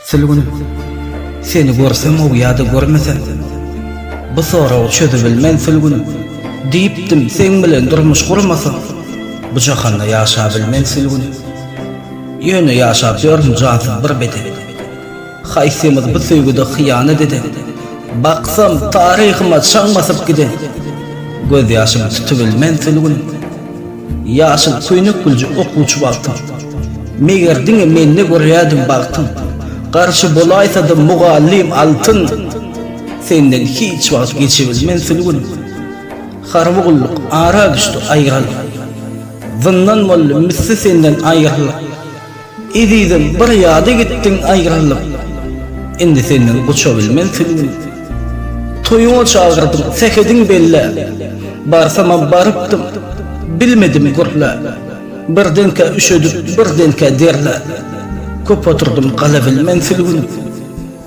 Sil gün Seni görsemw ýa-da görmesem Bu soragy çözübilmen sil gün Diýipdim seň bilen durmuş gurmasam Bu jahanda ýaşabilmen sil gün Ýöne ýaşap ýörün jansyz bir beden. Haýsymyz bu söýgüde hyýanat eden? Baksam, taryhyma çaň basyp giden. Gözýaşymy tutubilmen sülgün. Ýaşyl köýnek gülje okuwçy wagtym. Meger diňe mende görýädiň bagtym. Garşy bolaýsa-da mugallym altyn. Senden hiç wagt geçibilmen sülgün. Harby gulluk ara düşdi aýralyk. Zyndan boldy misli senden aýralyk. Ezizim bir ýada gitdiň aýrylyp, Indi senden goçabilmen süňňüm. Toýuňa çagyrdyň, sähediň belläp, Barsamam barypdym, bilmedim gürläp. Birdenkä üşedip, birdenkä derläp, Köp oturdym galabilmen sülgünip.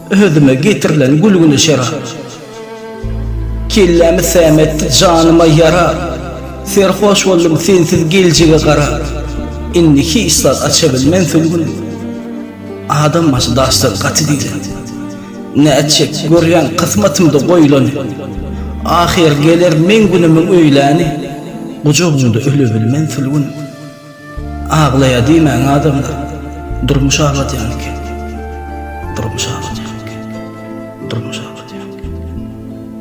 Özüme getirilen gülgüne şerap. Kellämi säm etdi, janyma ýara. Serhoş boldum sensiz geljege garap. Indi hiç zat açabilmen sülgün. Adam başy daşdan gaty diýlen. Nätjek, görýän kysmatymda goýlany. Ahyr geler meň günümiň öýläni. Gujagyňda ölebilmen sülgün. Aglaýar diýmäň adamlar, durmuş agladýan eken, durmuş agladýan eken, durmuş agladýan eken.